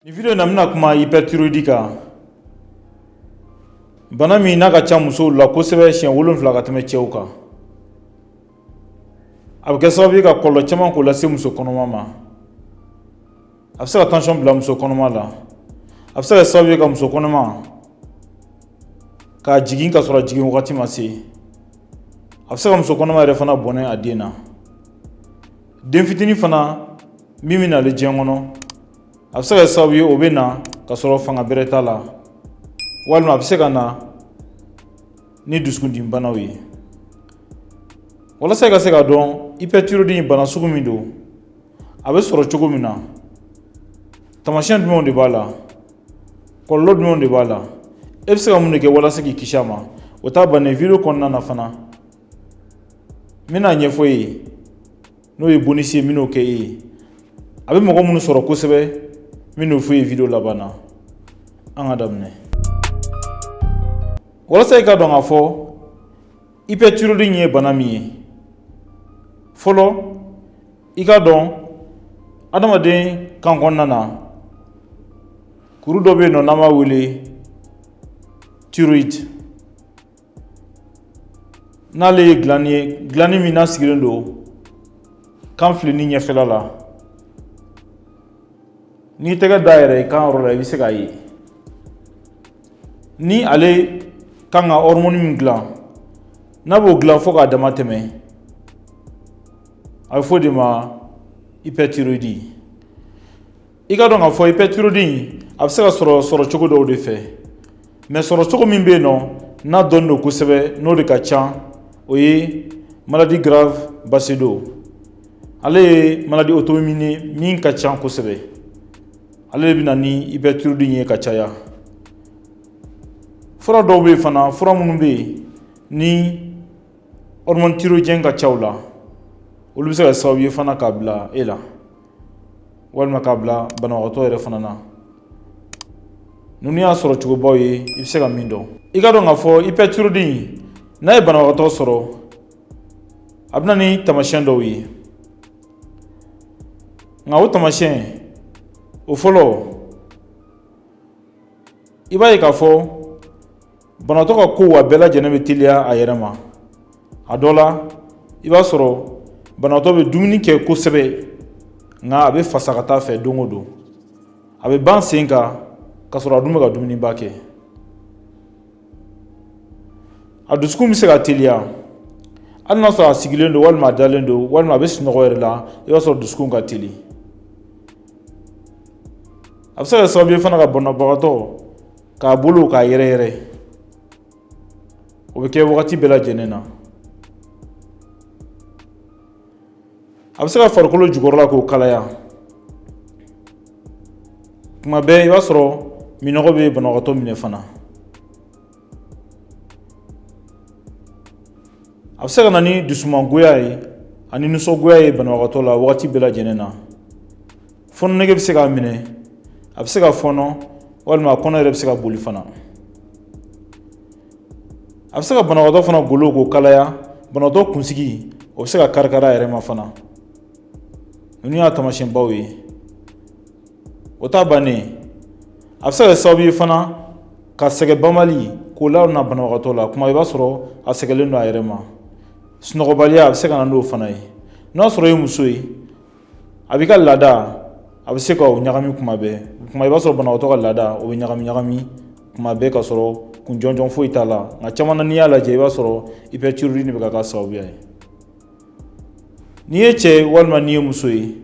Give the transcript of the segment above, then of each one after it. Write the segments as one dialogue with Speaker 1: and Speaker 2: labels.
Speaker 1: Nin video in na n bɛna kuma hyperthyroïdie kan bana min n'a ka ca musow la kosɛbɛ siɲɛ wolonfila ka tɛmɛ cɛw kan a bɛ kɛ sababu ye ka kɔlɔlɔ caman k'o lase muso kɔnɔma ma a bɛ se ka tansiyɔn bila muso kɔnɔma la a bɛ se ka kɛ sababu ye ka muso kɔnɔma k'a jigin ka sɔrɔ a jigin wagati ma se a bɛ se ka muso kɔnɔma yɛrɛ fana bɔnɛ a den na den fitinin fana min bɛ nalen diɲɛ kɔnɔ a bɛ se ka kɛ sababu ye o bɛ na ka sɔrɔ fanga bɛrɛ t'a la walima a bɛ se ka na ni dusukundimibanaw ye walasa i ka se k'a dɔn hyperthyroïdie bana sugu min don a bɛ sɔrɔ cogo min na tamasiyɛn jumɛnw de b'a la kɔlɔlɔ jumɛnw de b'a la e bɛ se ka mun de kɛ walasa k'i kisi a ma o t'a bannen video kɔnɔna na fana n bɛn'a ɲɛfɔ i ye n'o ye bonus ye n bɛn'o kɛ e ye a bɛ mɔgɔ minnu sɔrɔ kosɛbɛ n bɛn'o fɔ i ye video laban na an ka daminɛ walasa i ka dɔn k'a fɔ hyperthyroïdie ye bana min ye fɔlɔ i ka dɔn adamaden kan kɔnɔna na kuru dɔ bɛ yen nɔ n'an b'a wele thyroïde n'ale ye glande ye glande min n'a sigilen don kan filenin ɲɛfɛla la n'i tɛgɛ da yɛrɛ i kan yɔrɔ la i bɛ se k'a ye ni ale kan ka hormone min dilan n'a b'o dilan fo k'a dama tɛmɛ a bɛ fɔ o de ma hyperthyroïdie i ka dɔn k'a fɔ hyperthyroïdie a bɛ se ka sɔrɔ sɔrɔ cogo dɔw de fɛ mais sɔrɔ cogo min bɛ yen nɔ n'a dɔnnen don kosɛbɛ n'o de ka ca o ye maladie Graves Basedow ale ye maladie auto-immune min ka ca kosɛbɛ ale de bɛ na ni hyperthyroïdie ye ka caya fura dɔw bɛ yen fana fura minnu bɛ yen ni hormone thyroïdienne ka ca u la olu bɛ se ka kɛ sababu ye fana k'a bila e la walima k'a bila banabagatɔ yɛrɛ fana na ninnu y'a sɔrɔ cogobaw ye i bɛ se ka min dɔn i ka dɔn k'a fɔ hyperthyroïdie in n'a ye banabagatɔ sɔrɔ a bɛ na ni tamasiyɛn dɔw ye nka o tamasiyɛn o fɔlɔ i b'a ye k'a fɔ banatɔ ka kow a bɛɛ lajɛlen bɛ teliya a yɛrɛ ma a dɔ la i b'a sɔrɔ banatɔ bɛ dumuni kɛ kosɛbɛ nka a bɛ fasa ka taa fɛ don o don a bɛ ban sen kan ka sɔrɔ a dun bɛ ka dumuniba kɛ a dusukun bɛ se ka teliya hali n'a sɔrɔ a sigilen don walima a dalen don walima a bɛ sunɔgɔ yɛrɛ la i b'a sɔrɔ dusukun ka teli a bɛ se ka kɛ sababu ye fana ka banabagatɔ k'a bolo k'a yɛrɛyɛrɛ o bɛ kɛ wagati bɛɛ lajɛlen na a bɛ se ka farikolo jukɔrɔla k'o kalaya kuma bɛɛ i b'a sɔrɔ minnɔgɔ bɛ banabagatɔ minɛ fana a bɛ se ka na ni dusumangoya ye ani nisɔngoya ye banabagatɔ la wagati bɛɛ lajɛlen na fɔnɔ nege bɛ se k'a minɛ a bɛ se ka fɔnɔ walima a kɔnɔ yɛrɛ bɛ se ka boli fana a bɛ se ka banabagatɔ fana golo k'o kalaya banabagatɔ kunsigi o bɛ se ka karikari a yɛrɛ ma fana ninnu y'a taamasiyɛnbaw ye o t'a bannen a bɛ se ka kɛ sababu ye fana ka sɛgɛn banbali k'o lana banabagatɔ la kuma i b'a sɔrɔ a sɛgɛlen don a yɛrɛ ma sunɔgɔbaliya a bɛ se ka na n'o fana ye n'a sɔrɔ i ye muso ye a b'i ka laada a bɛ se ka o ɲagami kuma bɛɛ kuma i b'a sɔrɔ banabagatɔ ka laada o bɛ ɲagami ɲagami kuma bɛɛ ka sɔrɔ kun jɔnjɔn foyi t'a la nka caman na n'i y'a lajɛ i b'a sɔrɔ hyperthyroïdie bɛ ka k'a sababuya ye n'i ye cɛ ye walima n'i ye muso ye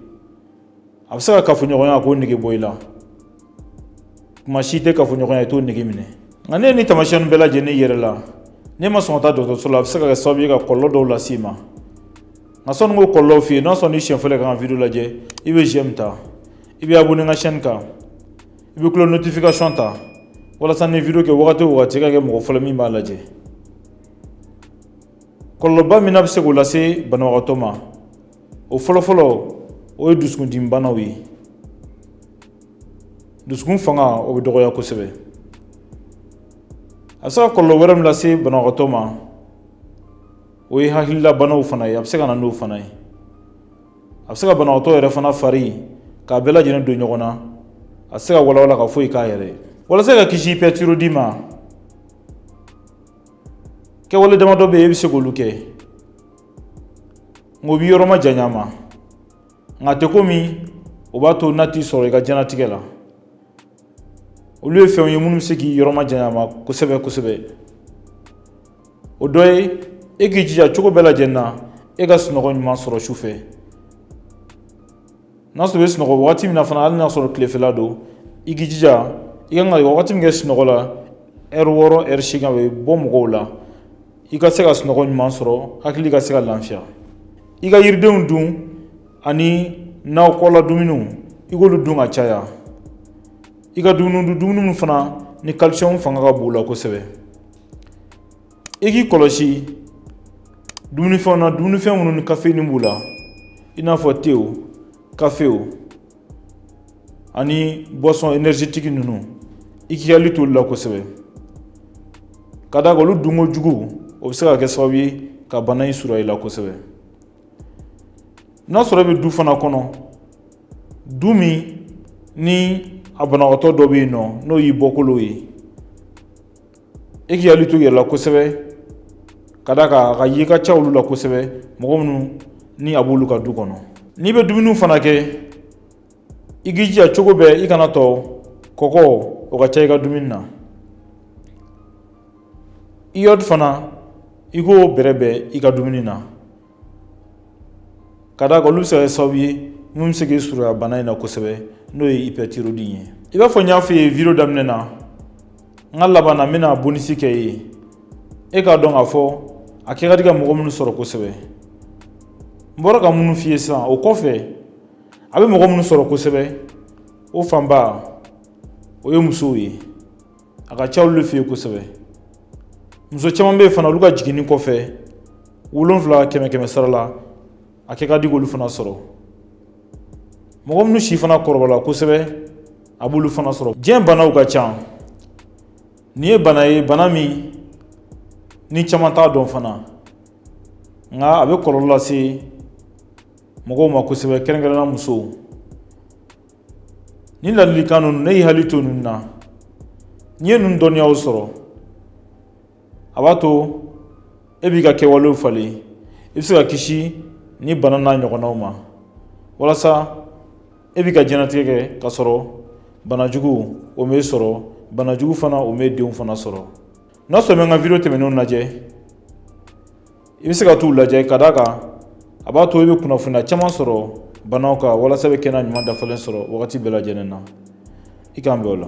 Speaker 1: a bɛ se ka kafoɲɔgɔnya k'o nege bɔ i la kuma si tɛ kafoɲɔgɔnya i t'o nege minɛ nka n'e ye nin taamasiyɛn bɛɛ lajɛlen y'i yɛrɛ la n'e ma sɔn ka taa dɔgɔtɔrɔso la a bɛ se ka kɛ sababu ye ka kɔlɔlɔ dɔw lase i ma nka sanni n k'o kɔlɔlɔw f'i ye n'a sɔrɔ ni siɲɛ fɔlɔ ka n ka video lajɛ i bɛ j'aime ta i bɛ abonné n ka chaîne kan i bɛ cloche notification ta walasa ni video kɛ wagati o wagati i ka kɛ mɔgɔ fɔlɔ min b'a lajɛ kɔlɔlɔba min n'a bɛ se k'o lase banabagatɔ ma o fɔlɔfɔlɔ o ye dusukundimibanaw ye dusukun fanga o bɛ dɔgɔya kosɛbɛ a bɛ se ka kɔlɔlɔ wɛrɛ min lase banabagatɔ ma o ye hakilila banaw fana ye a bɛ se ka na n'o fana ye a bɛ se ka banabagatɔ yɛrɛ fana fari k'a bɛɛ lajɛlen don ɲɔgɔn na a tɛ se ka walawala ka foyi k'a yɛrɛ ye walasa ka kisi hyperthyroïdie ma kɛwale damadɔ bɛ yen e bɛ se k'olu kɛ nka o b'i yɔrɔ majanya a ma nka a tɛ komi o b'a to n'a t'i sɔrɔ i ka diɲɛnatigɛ la olu ye fɛnw ye minnu bɛ se k'i yɔrɔma janya ma kosɛbɛ kosɛbɛ o dɔ ye e k'i jija cogo bɛɛ lajɛlen na e ka sunɔgɔ ɲuman sɔrɔ su fɛ n'a sɔrɔ i bɛ sunɔgɔ wagati min na fana hali n'a sɔrɔ tilefɛla don i k'i jija i kan ka wagati min kɛ sunɔgɔ la ɛri wɔɔrɔ ɛri seegin a bɛ bɔ mɔgɔw la i ka se ka sunɔgɔ ɲuman sɔrɔ hakili ka se ka lafiya i ka yiridenw dun ani nakɔla dumuniw i k'olu dun ka caya i ka dumuni dun dumuni minnu fana ni calcium fanga ka bon u la kosɛbɛ i k'i kɔlɔsi dumunifɛnw na dumunifɛn minnu ni caféine b'u la i n'a fɔ tew kafew ani boisson énergétique ninnu i k'i hakili t'olu la kosɛbɛ ka d'a kan olu dunkojugu o bɛ se ka kɛ sababu ye ka bana in surunya i la kosɛbɛ n'a sɔrɔ i bɛ du fana kɔnɔ du min ni a banabagatɔ dɔ bɛ yen nɔ n'o y'i bɔkolo ye e k'i hakili to i yɛrɛ la kosɛbɛ ka d'a kan a ka ye ka ca olu la kosɛbɛ mɔgɔ minnu ni a b'olu ka du kɔnɔ n'i bɛ dumuniw fana kɛ i k'i jija cogo bɛɛ i kan'a to kɔkɔ o ka ca i ka dumuni na iode fana i k'o bɛrɛbɛn i ka dumuni na ka d'a kan olu bɛ se ka kɛ sababu ye min bɛ se k'i surunya bana in na kosɛbɛ n'o ye hyperthyroïdie ye i b'a fɔ n y'a f'i ye video daminɛ na n ka laban na n bɛna bonisi kɛ i ye e k'a dɔn k'a fɔ a kɛ ka di ka mɔgɔ minnu sɔrɔ kosɛbɛ n bɔra ka minnu f'i ye sisan o kɔfɛ a bɛ mɔgɔ minnu sɔrɔ kosɛbɛ o fanba o ye musow ye a ka ca olu fɛ yen kosɛbɛ muso caman bɛ yen fana olu ka jiginni kɔfɛ wolonfila kɛmɛ kɛmɛ sara la a kɛ ka di k'olu fana sɔrɔ mɔgɔ minnu si fana kɔrɔbala kosɛbɛ a b'olu fana sɔrɔ diɲɛ banaw ka ca nin ye bana ye bana min ni caman t'a dɔn fana nka a bɛ kɔlɔlɔ lase mɔgɔw ma kosɛbɛ kɛrɛnkɛrɛnna musow nin ladilikan ninnu n'e y'i hakili to ninnu na n'i ye ninnu dɔnniyaw sɔrɔ a b'a to e b'i ka kɛwalew falen i bɛ se ka kisi nin bana n'a ɲɔgɔnnaw ma walasa e b'i ka diɲɛnatigɛ kɛ k'a sɔrɔ banajugu o m'e sɔrɔ banajugu fana o m'e denw fana sɔrɔ n'a sɔrɔ i ma n ka video tɛmɛnenw lajɛ i bɛ se ka t'u lajɛ ka d'a kan a b'a to i bɛ kunnafoniya caman sɔrɔ banaw kan walasa i bɛ kɛnɛya ɲuman dafalen sɔrɔ wagati bɛɛ lajɛlen na i k'an bɛn o la